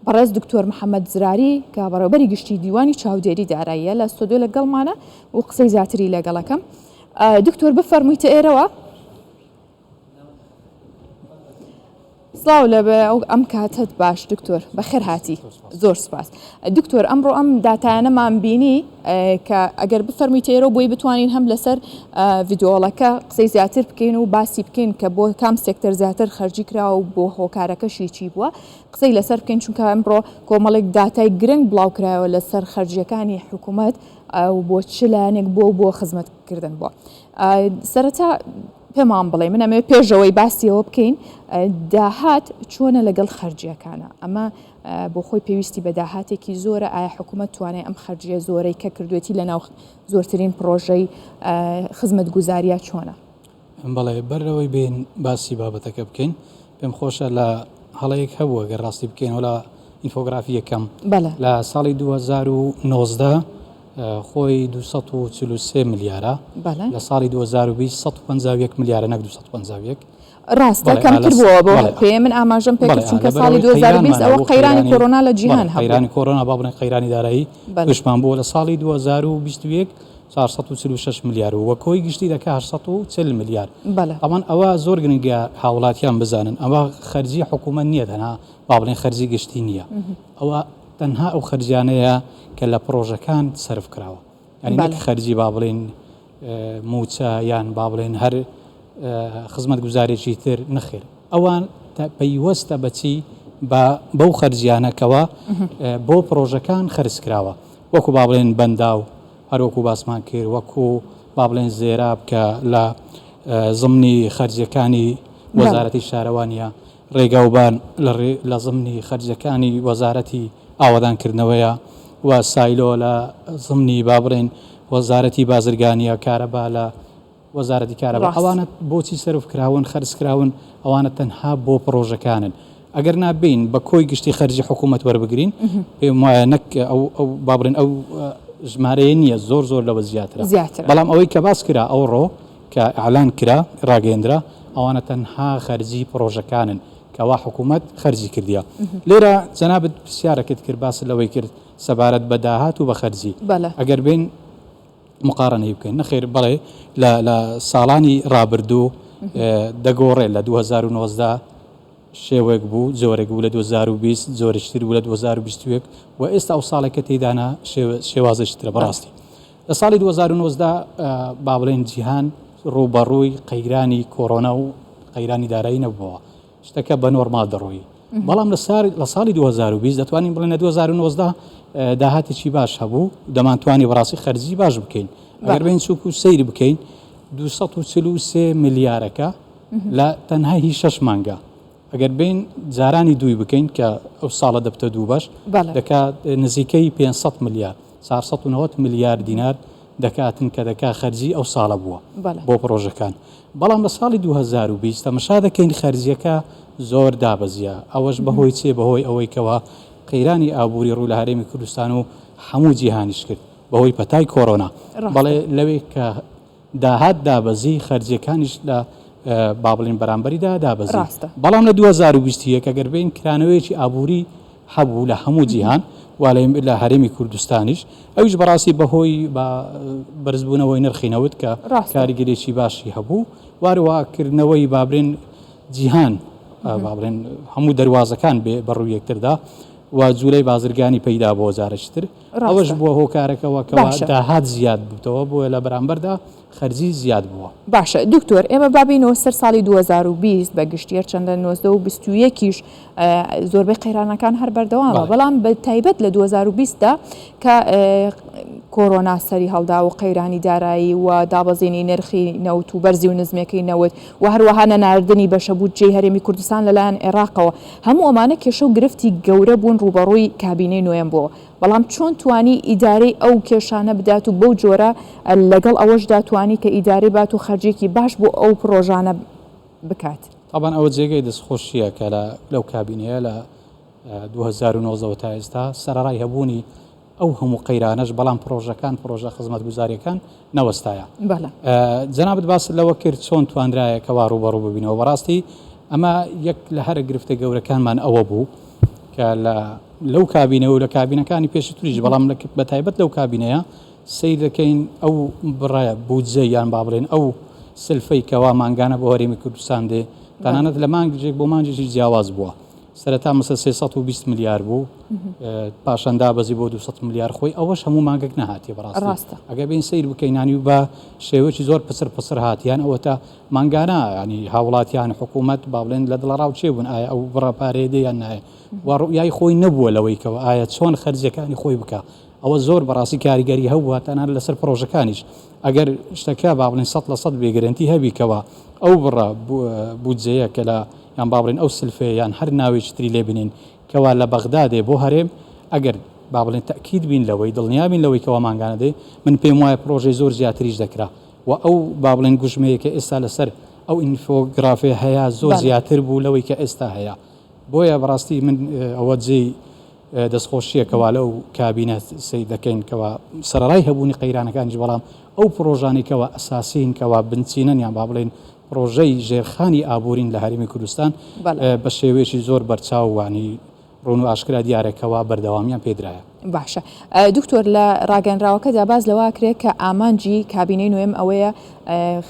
بەڕێز دکتۆر محەمەد زراری کە بەڕێوەبەری گشتی دیوانی چاودێری داراییە لە ستۆدیۆ لەگەڵمانە و قسەی زیاتری لەگەڵەکەم دکتۆر بفەرموویتە ئێرەوە. سڵاو لە ئەو ئەم کاتت باش دکتۆر بەخێر هاتی زۆر سپاس دکتۆر ئەمڕۆ ئەم دااتانەمان بینی کە ئەگەر بفەرمی تێرە بۆی بتوانین هەم لەسەر ڤیدۆڵەکە قسەی زیاتر بکەین و باسی بکەین کە بۆ کام سێکتەر زیاتر خەرجی کراوە و بۆ هۆکارەکەشی چی بووە قسەی لەسەر بکەین، چونکە ئەمڕۆ کۆمەڵێک داتای گرنگ بڵاوکرایەوە لەسەر خەرجییەکانی حکومەت و بۆ چ لایەنێک بۆ بۆ خزمەتکردن بۆ سەرەتا پێمان بڵێ من ئەمەوێت پێشەوەی باسیەوە بکەین داهات چۆنە لەگەڵ خەرجیەکانە ئەمە بۆ خۆی پێویستی بە داهاتێکی زۆرە ئایا حکوومەت توانێت ئەم خەرجیە زۆرەی کە کردوێتی لە ناو زۆرترین پرۆژەی خزمەت گوزاریە چۆنە بەڵێ بەر لەوەی بێین باسی بابەتەکە بکەین پێم خۆشە لە هەڵەیەک هەبووە گەر ڕاستی بکەین وەلا ئینفۆگرافی یەکەم لە ساڵی 2019 خۆی 243 ملیارە لە ساڵی 2020 151 ملیارە نەک 251 ڕاستە کەمتر بووە بۆ پێ من ئاماژەم پێ چونکە ساڵی 2020 ئەوە قەیرانی کۆرۆنا لە جیهان قەیرانی کۆرۆنا بابنە قەیرانی دارایی دشمان بووە لە ساڵی 2021 چوار سەد و چل و شەش ملیار و وە کۆی گشتی دەکا هەشت سەد و چل ملیار بەلێ. ئەوان ئەوە زۆر گرنگە هاوڵاتیان بزانن ئەوە خەرجی حکومەت نیە تەنها با بڵێن خەرجی گشتی نیە ئەوە تەنها ئەو خەرجیانەیە کە لە پڕۆژەکان سەرف کراوە یانی نەک خەرجی با بڵێن موچە یان با بڵێن هەر خزمەت گوزارێکی تر نەخێر ئەوان پەیوەستە بەچی بە بەو خەرجیانەکەوە بۆ پڕۆژەکان خەرج کراوە. وەکو با بڵێن بەنداو هەر وەکو باسمان کرد وەکو با بڵێن زێراب کە لە زمنی خەرجیەکانی وەزارەتی شارەوانیە ڕێگاوبان لە زمنی خەرجەکانی وەزارەتی ئاوەدانکردنەوەیە و سایلۆ لە زمنی با بڵێن وەزارەتی بازرگانیە کارەبا لە وەزارەتی کارەبا ئەوانە بۆچی سەرف کراون خەرج کراون ئەوانە تەنها بۆ پڕۆژەکانن ئەگەر نابین بە کۆی گشتی خەرجی حکوومەت وەربگرین پێم وایە نەک ئەو با بڵێن ئەو ژمارەیە نییە زۆر زۆر لەوە زیاتر زیاتر بەڵام ئەوەی کە باس کرا ئەو ڕۆ کە ئالان کرا ڕاگەندرا ئەوانە تەنها خەرجی پڕۆژەکانن کەوا حکوومەت خەرجی کردیا لێرە جەنابەت پرسیارەکەت کرد باس لەوەی کرد سەبارەت بە داهات و بە خەرجی ئەگەر بین مقارنەی بکەین نەخێر بەڵێ لە لە ساڵانی ڕابردوو دەگۆڕێت لە 2019 شێوەیەک بوو زۆرێک بوو لە 2020 زۆرشتر بوو لە 2021 و ئێستا ئەو ساڵێک کە تێدانا شێوازشترە بەڕاستی لە ساڵی 2019 با بڵێن جیهان ڕووبەڕووی قەیرانی کۆرۆنا و قەیرانی دارایی نەبووەوە شتەکە بە نۆرماڵ دەڕۆی بەڵام لە ساڵی دوو هەزار و بیست دەتوانین بڵێن لە دوو هەزار و نۆزدە داهاتێکی باش هەبوو دەمانتوانی بەڕاستی خەرجی باش بکەین ئەگەر بین چووک و سەیری بکەین دو سەد و چل و سێ ملیارەکە لە تەنها هی شەش مانگە ئەگەر بین جارانی دووی بکەین کە ئەو ساڵە دەبتە دوو بەش بەڵێ دەکات نزیکەی پێ سەد ملیار چوار سەد و نەوەد ملیار دینار دەکاتن کە دەکا خەرجی ئەو ساڵە بووە بەڵێ بۆ پڕۆژەکان بەڵام لە ساڵی دوو هەزار و بیست تەمەشا دەکەین خەرجییەکە زۆر دابەزییە، ئەوەش بەهۆی چێ؟ بەهۆی ئەوەی کەوا قەیرانی ئابووری ڕوو لە هەرێمی کوردستان و هەموو جیهانیش کرد بەهۆی پەتای کۆرۆنا، بەڵێ لەوێ کە داهات دابەزی خەرجییەکانیش لە با بڵێین بەرامبەریدا دابەزی، بەڵام لە دوو هەزار و بیست و یەک ئەگەر بێین کرانەوەیەکی ئابووری. هەبوو لە هەموو جیهان وا لە لە هەرێمی کوردستانیش ئەویش بەڕاستی بەهۆی بە بەرزبوونەوەی نرخی نەوت کە ڕاستە کاریگەریی باشی هەبوو واروا کردنەوەی با بڵێن جیهان ئا با بڵێن هەموو دەروازەکان بێ بە ڕووی یەکتردا و جوولەی بازرگانی پەیدا بۆ جارێکی تر ئەوەش ڕاستە بووە هۆکارەکەوە کەوا باشە داهات زیاد بووتەوە بۆیە لە بەرامبەردا خەرجی زیاد بووە. باشە دکتۆر ئێمە با بێینەوە سەر ساڵی دوو هەزار و بیست بە گشتی هەرچەندە نۆزدە و بیست و یەک یش زۆربەی قەیرانەکان هەر بەردەوامە بەڵێ. بەڵام بە تایبەت لە دوو هەزار و بیست دا کە کۆرۆنا سەری هەڵدا و قەیرانی دارایی و دابەزینی نرخی نەوت و بەرزی و نزمەکەی نەوت و هەروەها نەناردنی بەشە بودجەی هەرێمی کوردستان لەلایەن عێراقەوە هەموو ئەمانە کێشە و گرفتی گەورە بوون ڕووبەڕووی کابینەی نۆیەم بۆوە بەڵام چۆن توانی ئیدارەی ئەو کێشانە بدات و بەو جۆرە لەگەڵ ئەوەشدا توانی کە ئیدارەی بات و خەرجێکی باش بۆ ئەو پڕۆژانە بکات. تابان ئەوە جێگەی دەستخۆشییە کە لە لەو کابینەیە لە دوو هەزار و نۆزدە وە تا ئێستا سەرەڕای هەبوونی ئەو هەموو قەیرانەش بەڵام پڕۆژەکان پڕۆژە خزمەتگوزارییەکان نەوەستایە. بەڵێ. جەنابت باست لەوە کرد چۆن توانرایە کەوا ڕووبەڕوو ببینەوە، بەڕاستی ئەمە یەک لە هەرە گرفتە گەورەکانمان ئەوە بوو کە لە لەو کابینەوە لە کابینەکانی پێشتریش بەڵام لە بە تایبەت لەو کابینەیە سەیر دەکەین ئەو بڕە بودجە یان با بڵێن ئەو سلفەی کەوا مانگانە بۆ هەرێمی کوردستان دێ تەنانەت لە مانگێک بۆ مانگێکی جیاواز بووە. سەرەتا مسە سێ سەد و بیست ملیار بوو پاشان دابەزی بۆ دو سەد ملیار خۆی ئەوەش هەموو مانگێک نەهاتی بەڕاست ڕاستە ئەگە بین سیر بکەینانی و بە شێوەی زۆر پسر پسر هاتیان ئەوە تا مانگانە ینی هاوڵاتیان حکوومەت با بڵێن لە دڵە ڕاو چێ بوون ئایا ئەو بڕە پارێدەیان نایە و ڕوئای خۆی نەبووە لەوەیکەوە ئایا چۆن خەرجەکانی خۆی بکە ئەوە زۆر بەڕاستی کاریگەری هەبووە تەنها لەسەر پڕۆژەکانیش ئەگەر شتەکە با بڵێین سەد لە سەد بێ گرەنتی هەبی کەوا ئەو بڕە بودجەیە کە لە یان با بڵێین ئەو سلفەیە یان هەر ناوێکی تری لێ بنێین کەوا لە بەغدا دێ بۆ هەرێم ئەگەر با بڵێین تەئکید بین لەوەی دڵنیا بین لەوەی کەوا مانگانە دێ من پێم وایە پڕۆژەی زۆر زیاتریش دەکرا و ئەو با بڵێین گوژمەیە کە ئێستا لەسەر ئەو ئینفۆگرافێ هەیە زۆر بەڵێ زیاتر بوو لەوەی کە ئێستا هەیە بۆیە بەڕاستی من ئەوە جێی دەستخۆشییە کەوا لەو کابینە سەیر دەکەین کەوا سەرەڕای هەبوونی قەیرانەکانیش بەڵام ئەو پڕۆژانەی کەوا ئەساسین کەوا بنچینەن یان با بڵێین پڕۆژەی ژێرخانی ئابوورین لە هەرێمی کوردستان بە شێوەیەکی زۆر بەرچاو وانی ڕوون و ئاشکرا دیارە کەوا بەردەوامیان پێدرایە. باشە دکتۆر لە ڕاگەنراوەکەدا باز لەوە کرێت کە ئامانجی کابینەی نوێم ئەوەیە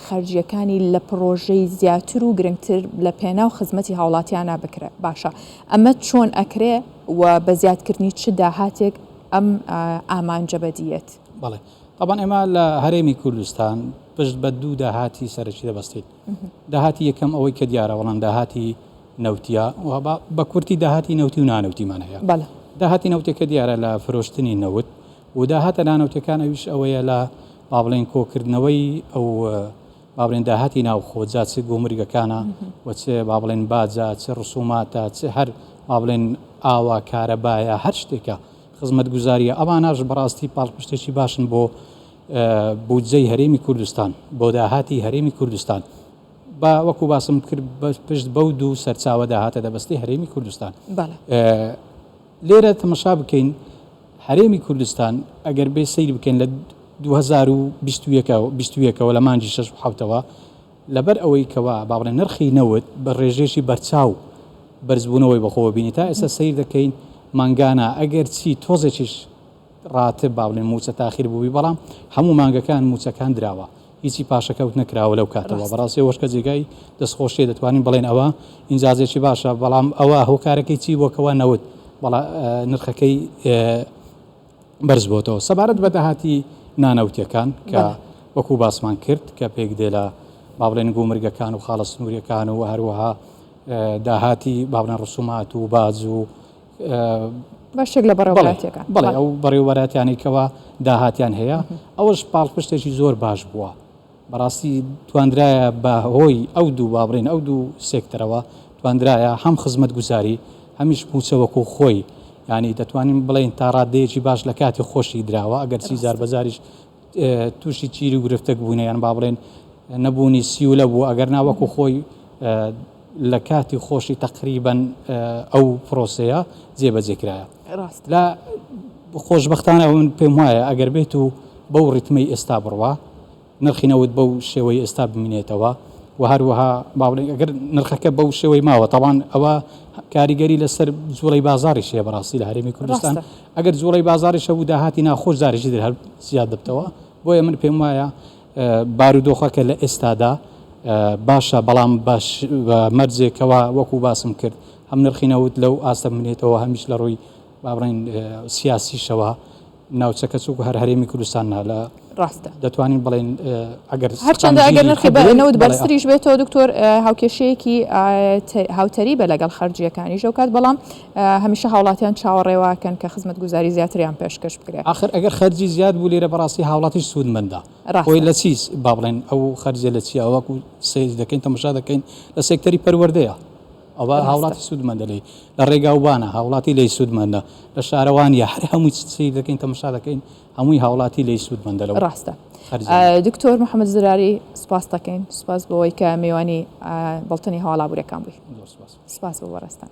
خەرجیەکانی لە پڕۆژەی زیاتر و گرنگتر لە پێناو خزمەتی هاوڵاتیانە بکرێت باشە ئەمە چۆن ئەکرێ و بە زیادکردنی چ داهاتێک ئەم ئامانجە بەدییەت؟ بەڵێ تەبان ئێمە لە هەرێمی کوردستان پشت بە دوو داهاتی سەرەکی دەبەستین داهاتی یەکەم ئەوەی کە دیارە بەڵام داهاتی نەوتیا بە کورتی داهاتی نەوتی و نانەوتیمان هەیە بەڵێ داهاتی نەوتەکە دیارە لە فرۆشتنی نەوت و داهاتە نانەوتەکان ئەویش ئەوەیە لە با بڵێن کۆکردنەوەی ئەو با بڵێن داهاتی ناوخۆ جا چ گومرگەکانە و چ با بڵێن باجە چ ڕسوماتە چ هەر با بڵێن ئاوا کارەبایە هەر شتێکە خزمەتگوزاریە ئەواناش بەڕاستی پاڵپشتێکی باشن بۆ بودجەی هەرێمی کوردستان بۆ داهاتی هەرێمی کوردستان با وەکو باسم کرد پشت بەو دوو سەرچاوە داهاتە دەبستی هەرێمی کوردستان لێرە تەمەشا بکەین هەرێمی کوردستان ئەگەر بێ سەیر بکەین لە دوو هەزار و بیست و یەک بیست و یەکەوە لە مانگی شەش و حەوتەوە لەبەر ئەوەی کەوا با بڵێن نرخی نەوت بە ڕێژەیەکی بەرچاو بەرزبوونەوەی بەخۆوە بینی تا ئێستا سەیر دەکەین مانگانە ئەگەر چی تۆزێکیش ڕاتب با بڵێن مووچە تاخیر بووبی بەڵام هەموو مانگەکان مووچەکان دراوە. هیچی پاشەکەوت نەکراوە لەو کاتەوە بەڕاستی ئەوەش کە جێگای دەستخۆشیە دەتوانین بڵێن ئەوە ئینجازێکی باشە بەڵام ئەوە هۆکارەکەی چی بووە کەوا نەوت بەڵا نرخەکەی بەرز بۆتەوە سەبارەت بە داهاتی نانەوتیەکان کە وەکو باسمان کرد کە پێک دێ لە با بڵێن گومرگەکان و خاڵە سنووریەکان و هەروەها داهاتی با بڵێن ڕسومات و باج و بەشێک لە بەڕێوەبەرایەتیەکان. بەڵێ ئەو بەڕێوەبەرایەتیانەی کەوا داهاتیان هەیە ئەوەش پاڵپشتێکی زۆر باش بووە بەڕاستی تواندرایە بە هۆی ئەو دوو با بڵێن ئەو دوو سێکتەرەوە تواندرایە هەم خزمەت گوزاری هەمیش مووچە وەکوو خۆی یانی دەتوانین بڵێن تا ڕاددەیەکی باش لە کاتی خۆشی دراوە ئەگەرچی جار بە جاریش تووشی چیر و گرفتەک بووینە یان با بڵێن نەبوونی سیولە بوو ئەگەرنا وەکو خۆی لە کاتی خۆشی تەقریبەن ئەو پرۆسەیە جێبەجێکرایە ڕاست لە خۆشببختانە ئەوون پێم وایە ئەگەر بێت و بەو ڕتمەی ئێستا بڕوا نرخی نەوت بەو شێوەی ئێستا بمینێتەوە و هەروەها باڵێن ئەگەر نرخەکە بەو شێوەی ماوە تاوان ئەوە کاریگەری لەسەر زۆڵی بازاری شێ بەڕاستی لە هەرێمی کوردستان ئەگەر جوڵەی بازاڕیش هەبوو داهاتی ناوخۆش جارێکی تر هەر زیاد دەبتەوە، بۆیە من پێم وایە بارودۆخەکە لە ئێستادا باشە، بەڵام بە مەرجێک کەوا وەکو باسم کرد هەم نرخی نەوت لەو ئاستە بمێنێتەوە هەمیش لە ڕووی با بڵێین سیاسیشەوە ناوچەکە چووک هەر هەرێمی کوردستان نا لە ڕاستە. دەتوانین بڵێین ئەگەر سووتانی ژیری خوب بێت. هەرچەندە ئەگەر نرخی نەوت بەرزتریش بێتەوە دکتۆر هاوکێشەیەکی هاوتەریبە لەگەڵ خەرجییەکانیش ئەوکات، بەڵام هەمیشە هاوڵاتیان چاوەڕێ واکەن کە خزمەتگوزاری زیاتریان پێشکەش بکرێت. ئاخر ئەگەر خەرجی زیاد بوو لێرە بەڕاستی هاوڵاتیش سوودمەندە. خۆی لە چی با بڵێن ئەو خەرجییە لە چییە وەکو سەیر دەکەین تەماشا دەکەین لە سێکتەری پەروەردەیە. ئەوە هاوڵاتی سوودمەندە لێی، لە ڕێگاوبانە هاوڵاتی لێی سوودمەندە، لە شارەوانییە، هەر هەمووی سەیر دەکەین تەماشا دەکەین هەمووی هاوڵاتی لێی سود مەندە لەو ڕاستە دکتۆر محمد زراری سپاس دەکەین سپاس بۆەوەی کە میوانی بەڵتنی هەواڵابورەکان بووی سپاس بۆ بەڕێزتان.